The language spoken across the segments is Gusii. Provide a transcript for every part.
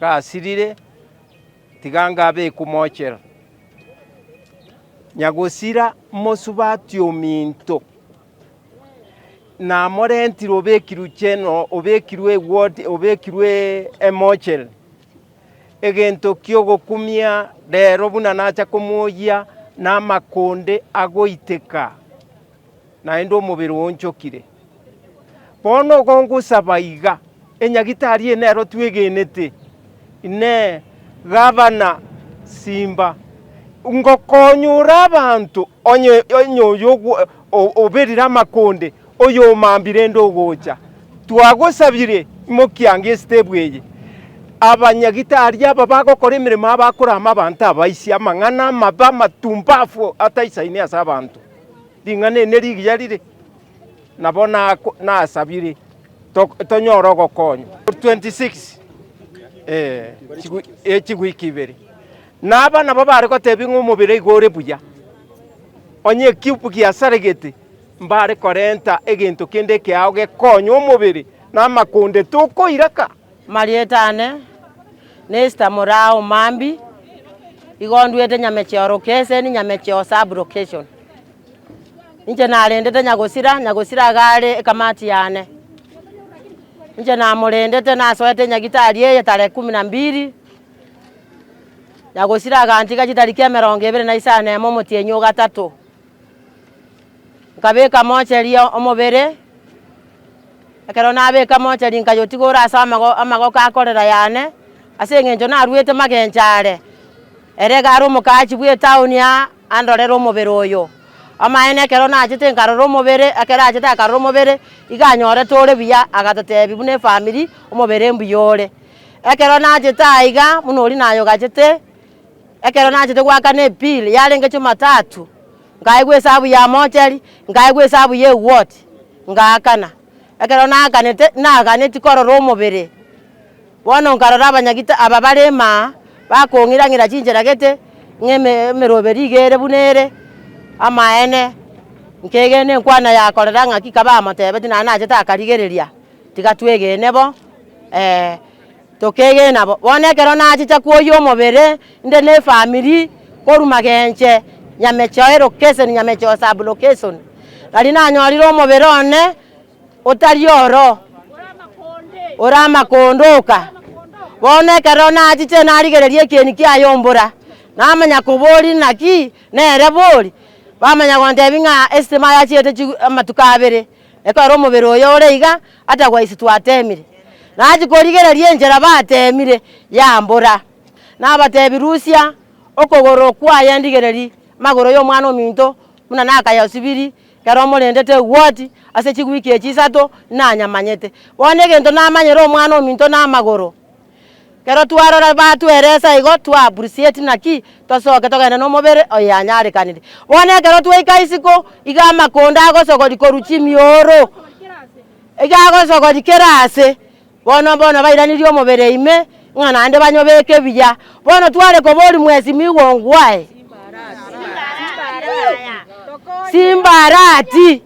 gasirire, tiga ngabe ekomochera. Nyagosira mosubati ominto, namorentire obekirwe cheno, obekirwe ewodi, obekirwe emochere, egento kiogokumia rero buna nacha komoyia namakonde agoiteka, naende omobere oonchokire. Bono okongosaba iga, enyagitari eye nero twegenete, Inee! Gavana, simba ngokonyora abanto, onye onye oyo oberire amakonde, oyomambia rende ogocha. Twagosabire, imokia ango esitebu eye, abanyagitari aba bagokora emeremo yabo akore amo abanto abaise amang'ana amabe amatumbafu ataisaini ase abanto. Ring'ana eri nerigiya rire. nabo nasabire tonyore ogokonywa. Chigwiki ibere, na aba nabo bare gotebia ng'a omobere igo ore buya, onye ekiupu giasaregete, mbare korenta egento kende ekeao gekonya omobere na amakonde, tokoiraka. Amarieta ane n'Esther Murao Mambi, igo nduete Nyamecheo Location, Nyamecheo Sub-Location. Inche narendete Nyagosira, Nyagosira iga are ekamati yane. Inche namorendete nasoete enyagitari eye tarehe kumi na mbili, Nyagosira agantiga chitariki emerongo ebere na isano na emo omotienyi o gatato. Nkabeka mocheri omobere, ekero nabeka mocheri nkayotigora ase amago- amagoko a korera yane, ase eng'encho naruete magencho are. Ere iga are omokachi bw'etown ya andorere omobere oyo. Amaene ekero nachete nkarora omobere, ekero achete akarora omobere, iga anyorete ore buya, agatotebi buna efamiri, omobere mbuya ore. Ekero nachete aiga, buna oria naye ogachete, ekero nachete goakana ebill yarenge jumatatu, nkaigwa esabu ya mochari, nkaigwa esabu ya eward, ngaakana. Ekero naakanete, naaganetie korora omobere. Bono nkarora abanyagita aba bare ime aa, bakong'ira-ng'ira chinchera gete ng'emeroberi iga ere buna ere. Amaene, nkegena enkwana yakorera ng'aki kabamotebetie, naende nachete akarigereria, tiga twegene bo, ee, tokegena bo. Bono ekero nachicha kwoyia omobere, inde ne efamiri korwa Magenche, Nyamechoe location, Nyamechoe sub-location, nari nanyorire omobere one. otari oro, ore amakondo, oka. Bono ekero nachiche narigereria ekieni kiaye ombura, namanya kobori naki nere bori, bamanya gontebi ng'a esitema yachiete chi amatuko abere, ekero omobere oye ore iga atagwa isi twatemire. Nachia korigereria enchera batemire yambura, nabatebi rusia okogoro kwaye ndigereri magoro y'omwana ominto buna nakayasibiri. Ekero morendete egwoti ase chiwiki echi isato, nanyamanyete. Bono egento namanyere omwana ominto namagoro. Ekero twarora batweresa igo, twa appreciate naki tosoke togende nomobere oye anyarekanire. Bono ekero twaika isiko, iga amakondo agosogori korwa chimioro, iga agosogori kera ase. Bono, bono bairanirie omobere ime, ng'a naende banyobeke ebiya. Bono tware kobori mwesi migongo aye, simbarati,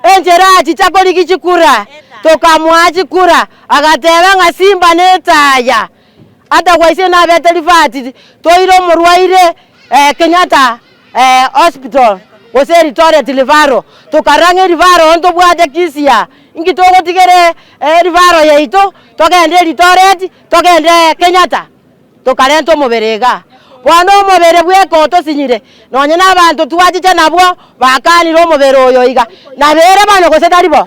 enchera achicha korigia chikura, tokamoa chikura, agateba ng'a simba netaya, Atagwa ise nabete rifati toire omorwaire eh, Kenyatta eh, hospital gose Eldoret referral, tokarang'e referral oo ntobwate kisia inki togotigere eh, referral yaito togende Eldoret togende Kenyatta tokarenta omobere igaa. Bono omobere bweka otosinyire. Nonya nabanto twachicha nabwo bakaanire omobere oyo iga, Nabeire bano gose tari bo?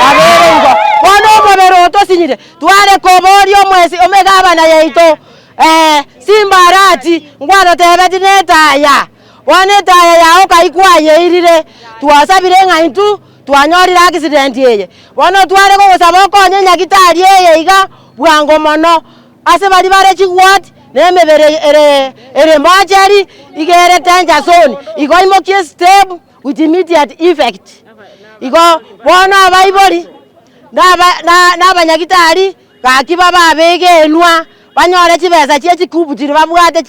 Nabeire igo. Bono omobere otosinyire, tware kobooria omwesi omegabana yaito, Ee, simbarati ngwarotebetie netaya. Bono etaya yao kai kwayeirire, twasabire ng'a intwe twanyorire accident eye. Bono tware gogosaba okonye nyagitari eye iga bwango mono. Ase baria bare chigwati nemebere ere mocheri iga ere tenchasoni, igo imokie step with immediate effect. Igo bono abaibori na abanyagitari gaki bababege enwa banyore chibesa chie chikubu chiria babwate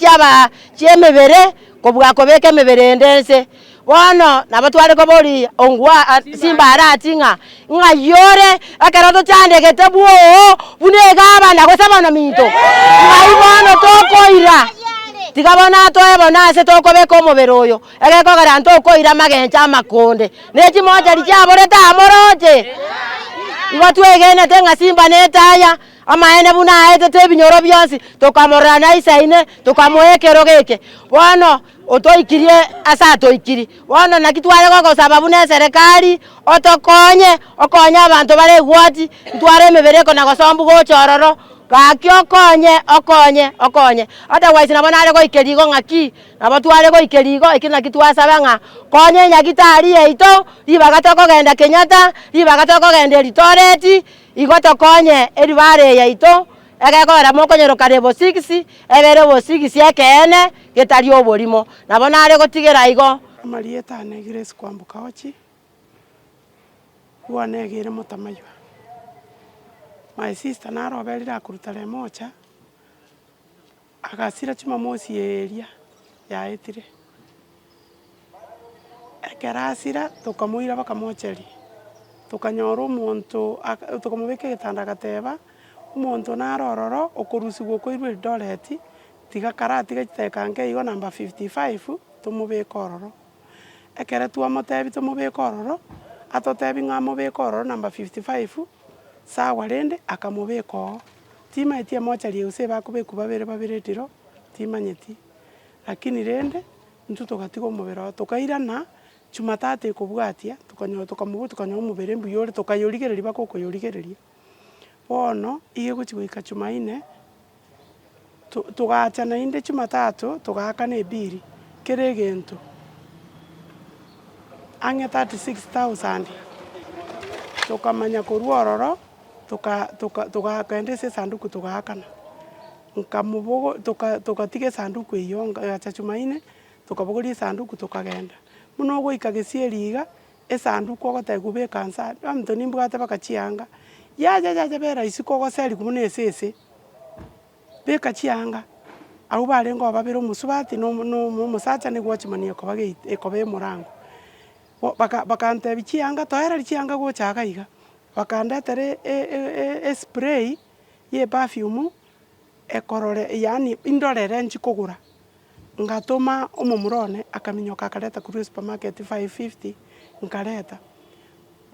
chiemebere kobua kobeka emebere ende ense. Bono nabo tware koboria ong'wa ase mbara ati ng'a ng'ai ore ekero tochandegete bwoo buna egabana gose bonominto? Ng'ai bono tokoira? Tiga bono atoe bono ase tokobeka omobere oyo, egekogera ntokoira amagencho amakonde, ne chimochari chiaborete amoroche. Igo twegenete ng'a Simba nete aya, amaene buna aetete ebinyoro bionsi, tokamorora naise ime, tokamoa ekerogo eke. Bono. Otoikirie ase atoikiri. Bono naki tware gogosaba buna eserekari otokonye okonye abanto bare egwati ntware emebere eko na gosombu gocha ororo. Gaki okonye okonye okonye. Otherwise nabo nare goikeria igo ng'aki nabo tware goikeria igo ekio naki twasaba ng'a konye nyagitari yaito ribaga tokogenda Kenyatta ribaga tokogenda eritoreti igo tokonye eribare yaito. Egekogera mokonyorokana ebosibisi, ebeere obosibisi ekeene, getari oborimo, nabo nare gotigera igo. Amarieta ane Grace Kwambuka Ochi, Bwana Egeire Motamaywa. My sister naro oberire akoruta Remocha, Agasira chimomosi eria yaetire. Ekero asira tokamoira bakamocheria, tokanyora omonto tokamobeka egetanda agateba, omonto naro ororo okorusigwa okoirwa Eldoret, tiga karatige chidakika nke igo number fifty five tomobeke ororo. Ekero twamotebia tomobeke ororo, atotebia ng'a mobeke ororo number fifty five, sawa rende akamobeka oo. Timaeti emochari eye gose ebakobekwa babere babere etiro, timanyeti. Lakini rende, intwe togatiga omobere oo, tokairana Jumatatu ekobwatia, tokanyora tokamobua tokanyora omobere mbuya ore, tokayorigereria baka okoyorigereria. Bono, iga egochi goika Jumaine, Togaacha naende Chimatato, togaaka na ebiiri, kera egento ang'e 36,000. Tokamanya korwa ororo togagenda ase esanduku togaakana, togatiga esanduku eyio, egacha Jumanne tokabogoria esanduku tokagenda. Buna ogoika gesieri iga, Esanduku ogotaka kobeka nse aa, baminto nimbwate baka chianga, yacha yacha bera isiko ogoseri kobua na esese, beka chianga, abwo barenge oo babere omosubati na omo- na omo- omosacha nigo gwachimani ekoba gate ekoba emorango. Bo baka bakantebi chianga toereria chianga gocha iga iga, bakandetera e- e- e- e- espray ya eperfume ekorore yaani indorere nchikogora. Ngatoma omomura one, akaminyoka akareta korwa esupermarket five fifty, nkareta.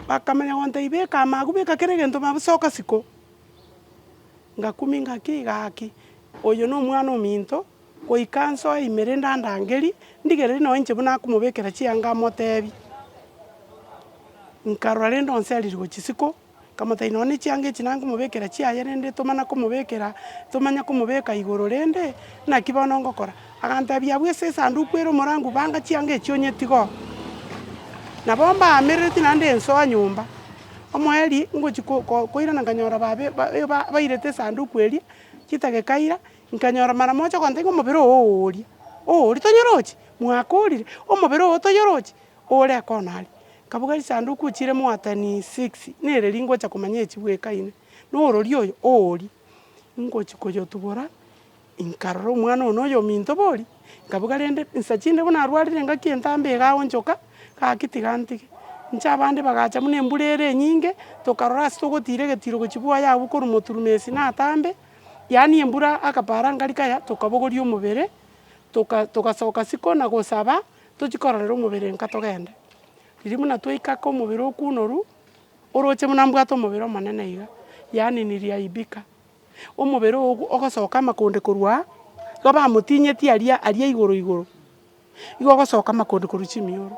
Bakamanya gontebia beka ama agwo, beka kera egento ama agwo, soka siko. Ngakumia ingaki igaki, oyo na omwana ominto, goika nsoe ime rende andangerie, ndigererie nonye inche buna akomobekera chianga amotebie. Nkarora rende onse aririwe chisiko, Nkamotaina nonya ne chianga echi nanga komobekera chiaye, rende tomana komobekera, tomanya komobeka igoro rende, naki bono ngokora? Agantebia, Abwo ase esanduku ere omorangu banga chianga echi onyetige oo. Nabo mbaamerereti naende nsoa nyomba, omoerio ngochia ko- ko- koirana nkanyora babe ba- e- ba- bairete esanduku eria, chita gekaira, nkanyora mara mocha ogontebia ng'a omobere oo oooria, oooria tonyoroche? Mwakorire? Omobere oo toyoroche? Ore koona aria. Nkabuga risanduku ochire mwaatani six, nere ri ngocha komanya echi bwekaine, na orori oyo oori. Ngochi koyotubora, nkarora omwana oyo na oyominto bori, nkabuga rende nsa chinde buna arwarire ngaki entambe igaonchoka, gaki tiga ntige. Inche abande bagacha buna embura ere enyinge, tokarora ase togotiira egetiro gochia bwaya abwo korwa moturumesi na atambe, yaani embura akapara ngari kaya, tokabogoria omobere, toka togasoka siko na gosaba. Tochi kororera omobere nka togende. Riria buna twaika aka omobere okunoru, oroche buna mbwate omobere omonene iga, yaani niliaibika. Omobere ogo ogosoka amakonde korwa aa, igo bamotinyeti aria aria igoro igoro, igo ogosoka amakonde korwa chimioro.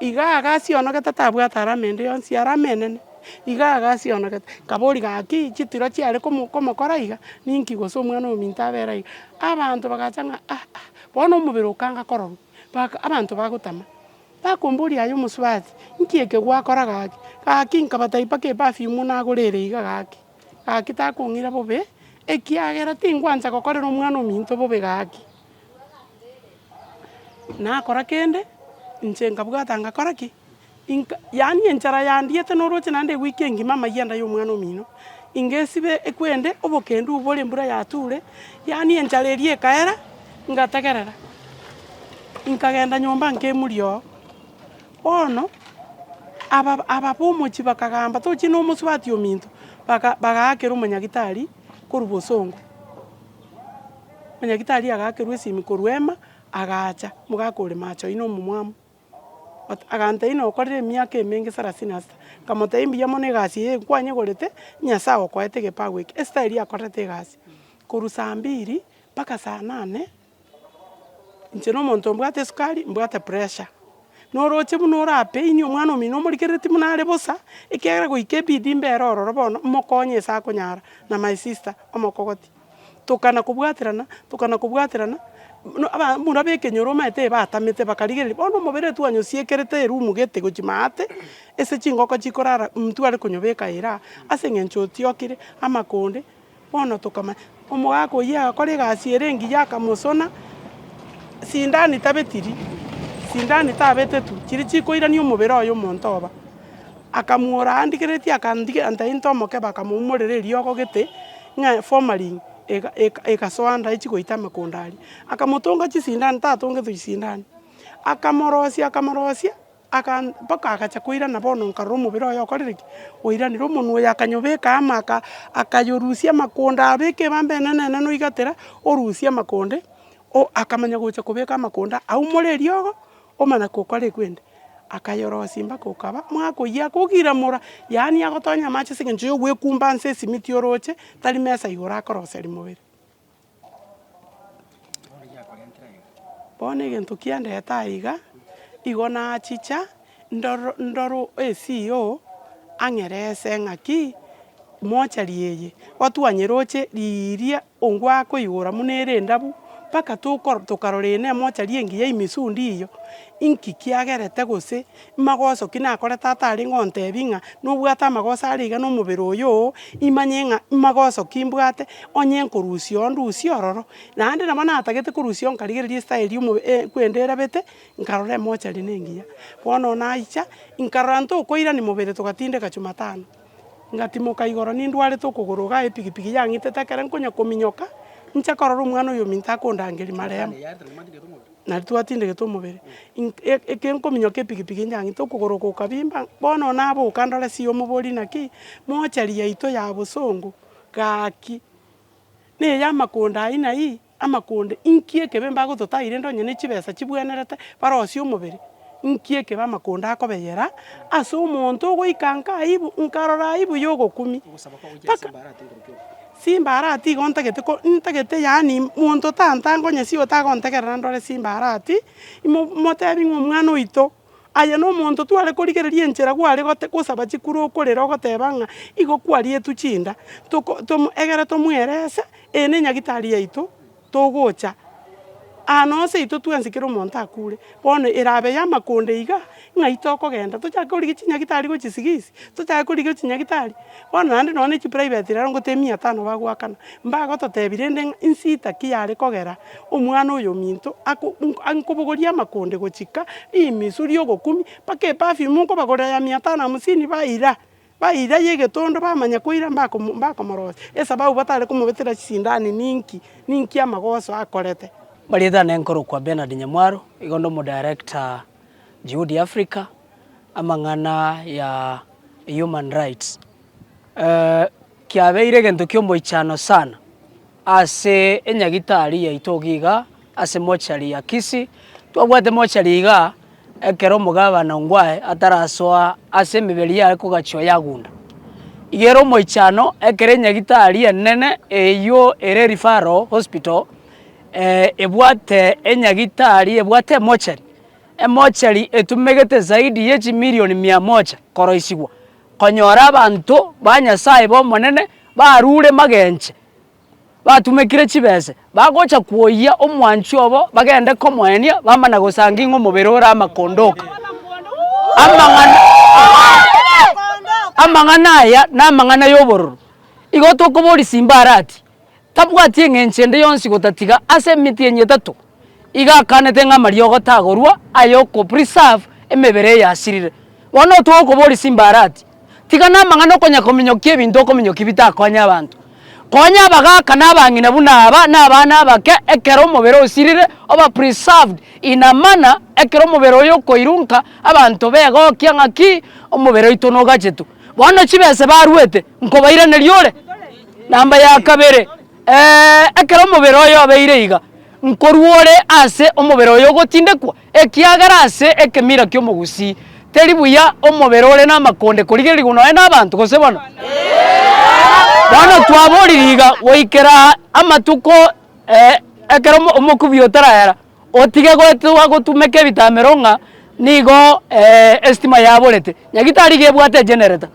Iga iga asionogete tabwate alama ende yonsi, alama enene, iga iga asionogete. Nkaboria gaki chitiro chiare komo komokora iga, ninki gose omwana ominto abera iga? Abanto bagacha ng'a ah ah. Bono omobere okanga kororwa, mpaka abanto bagotama, bakomboria aye omosubati, Nki eke gwakora gaki? Gaki nkabatebia, Mpaka eperfume nagorere iga gaki, gaki takong'ira bobe, ekiagera tingwancha gokorera omwana ominto bobe gaki. Nakora kende, inche nkabwata ngakora ki? Inka, yaani enchara yandiete noroche naende ewiiki engima amayia ndaya omwana omino, inga esibe ekwende obokendu obore embura yature, yaani enchara eria ekaera, ngategerera, nkagenda nyomba nkaemuria oo. Bono, aba aba bomochie bakagamba tochie nomosubati ominto, baka bagaakera omonyagitari korwa bosongo, omonyagitari agakerwa esimi korwa ema, agacha, omogaka ore macho aino omomwamu. Agantebia, Inwe okorire emiaka emenge sarasini na sita. Nkamotebia, Mbuya mono egasi eye nkwanyegorete, Nyasae agokoete egepagu eke. Esita eria akorerete egasi korwa saa mbiri mpaka saa nane, inche na omonto mbwate esukari, mbwate pressure. Noroche buna orapain omwana omino omorigerereti buna are bosa, ekiagera goika ebidi mbere ororo bono, mokonye ase akonyara, na my sister, omokogoti. tokana kobwaterana, tokana kobwaterana, buna aba buna b'ekenyoro omanyete ebatamete bakarigereria, bono omobere oyo twanyosiekerete erumu gete gochia maate, ase chingoko chikorara ntware konyobeka ere aa, ase eng'encho otiokire, amakonde, bono tokamanya, omogaka oyio agakora egasi ere engiya akamosona, sindani tabetiri, sindani tabetetwe, chiria chikoirani omobere oye omonto oba. Akamuora aandigeretie akandigia nta into omokebe akamoumorera eriogo gete ng'a formalin egasoa nda echie goita amakonda aria. Akamotonga chisindani tatongetwe chisindani. Akamorosia akamorosia mpaka agacha koirana bono nkarora omobere oye okorire ki? Oiranire omonwe oye akanyobeka ama akayorusia amakonda abeka ebamba enene enene oiga tera orusie amakonde akamanya gocha kobeka amakonda aumore eriogo. Omana kokora ekwende, akayorosia mpaka okaba mwaka oyio akogiramora, yaani agotonya amache ase eng'encho yogwekumba nse esimiti oroche, tari mesa igoro akoroseria mobere. Bono egento kiandete aiga, igo nachicha ndoro ndoro CEO ang'erese ng'aki, mochari eye, otwanye roche riria. Ongwakoigora buna ere endabu, mpaka tokor tokarora eye nemochari engiya emesundi eyio, inki kiagerete gose magoso ki nakorete ata arenge ontebie ng'a nobwate amagoso are iga nomobere oyo oo, imanye ng'a magoso ki mbwate, onye nkorusia oo ndusie ororo. Naende nabo natagete korusia oo nkarigereria estyle ya omo eh kwende erabete, nkarora emochari nengiya. Bono naicha, nkarora ntokoirani mobere togatindeka Jumatano. Ngatimoka igoro nindwarete okogoro igaa epigipigi yang'itete ekero nkonya kominyoka nche korora omwana oyo ominto akondangeria marehemu naende twatindegete omobere ink- e- ekero nkominyoka epigipigi yang'ita okogoro oko okabimba bono oo naboka ndore si omoborie naki mochari yaito ya bosongo gaki na ey'amakonda ayio na ayio. Amakonde, Inki ekebe mbagototaai rende onye ne chibesa chibwenerete barosie omobere? Inki ekebe amakonde akobeyera ase omonto ogoika nka aibu, nkarora aibu y'ogokumi? Mpaka Simba arati igo ntagete ko ntagete yaani monto tantange onye si otagontegerera ndore Simba arati, imo motebi ng'a omwana oito. Aye nomonto tware korigereria enchera gware gote gosaba chikure okorera ogoteba ng'a igo kwarietwe chinda, toko tom egere tomwerese, eye ne nyagitari yaito, togocha aa nonsi yaito twensi kera omonto akure. Bono erabe yamakonde iga, ng'ai tokogenda tochake korigia chinyagitari gochisigisi, tochake korigia chinyagitari, bono naende nonya ne chiprivate rero ngotebi mia tano bagoakana, mbagototebia rende ng'a insida ki yare kogera. Omwana oyominto ankobogoria amakonde gochika rimisu ri'ogokumi, mpaka eperfume nkobagorera ya mia tano hamsini baira, baira y'egetondo bamanya koira mbakomorosia, esababu batare komobetera chisindani ninki? Ninki amagoso akorete? Amarieta ane nkorokwa Bernard Nyamwaro, igo nde Omodirector Juhudi Africa, amang'ana ya Human Rights. Kiabeire egento ki'omoichano sana ase enyagitari yaito ogo iga ase mochari ya Kisii. Twabwate mochari iga ekero omogabana Ongwae atarasoa ase emeberi yaye kogachia oyagunda. Iga ere omoichano ekero enyagitari enene eywo ere referral hospital ebwate enyagitari ebwate emochari, emochari etumegete zaidi ye chimilion mia moja koroisigwa. konyora abanto ba Nyasae b'Omonene barure magenche, batumekire chibese, bagocha kwoyia omwanchwa obo bagende komoenia, bamana gosanga ing'o omobere ore amakondoka. Amang'ana aya namang'ana y'obororo. Igo tokoboria Simbarati, tabwati eng'encho ende yonsi gotatiga ase emiti enyio etato, iga akanete ng'a amariogo tagorwa aya oko preserve emebere eye yasirire. Bono otoe okoboria simbarati, tiga na amang'ana okonya kominyokia ebinto okominyokia bitakonya abanto. Konya abagaka na abang'ina buna aba na abana abake ekero omobere osirire oba preserved in a manner ekero omobere oyo okoirwa nka abanto begokia ng'aki omobere oito nogachetu. Bono chibese barwete nkobairaneria ore. Namba ya kabere, ee, ekero omobere oyo obeire iga, nkorwa ore ase omobere oyo ogotindekwa, ekiagera ase ekemira ki'omogusii teri buya omobere ore namakonde korigererigwa nonya nabanto, gose bono? Bono twaboriri iga goikera amatuko, ee, ekero omokubi otarayera, Otige goetwa gotumeka ebitamero ng'a nigo esitima yaborete, nyagitari iga ebwate egenerator.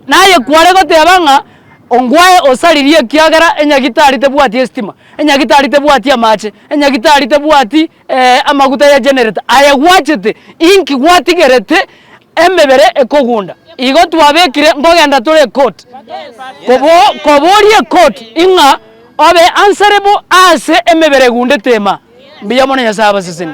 Naye kware goteba ng'a ongwae osaririe ekiagera enyagitari tebwati esitima, enyagitari tebwati amache, enyagitari tebwati amaguta ya generator aye gwachete inki gwatigerete emebere ekogunda. Igo twabekire nkogenda tore court koboria court ing'a. Obe ansare bo aase emebere egunde teema. Mbuya mono Nyasae abaseseni.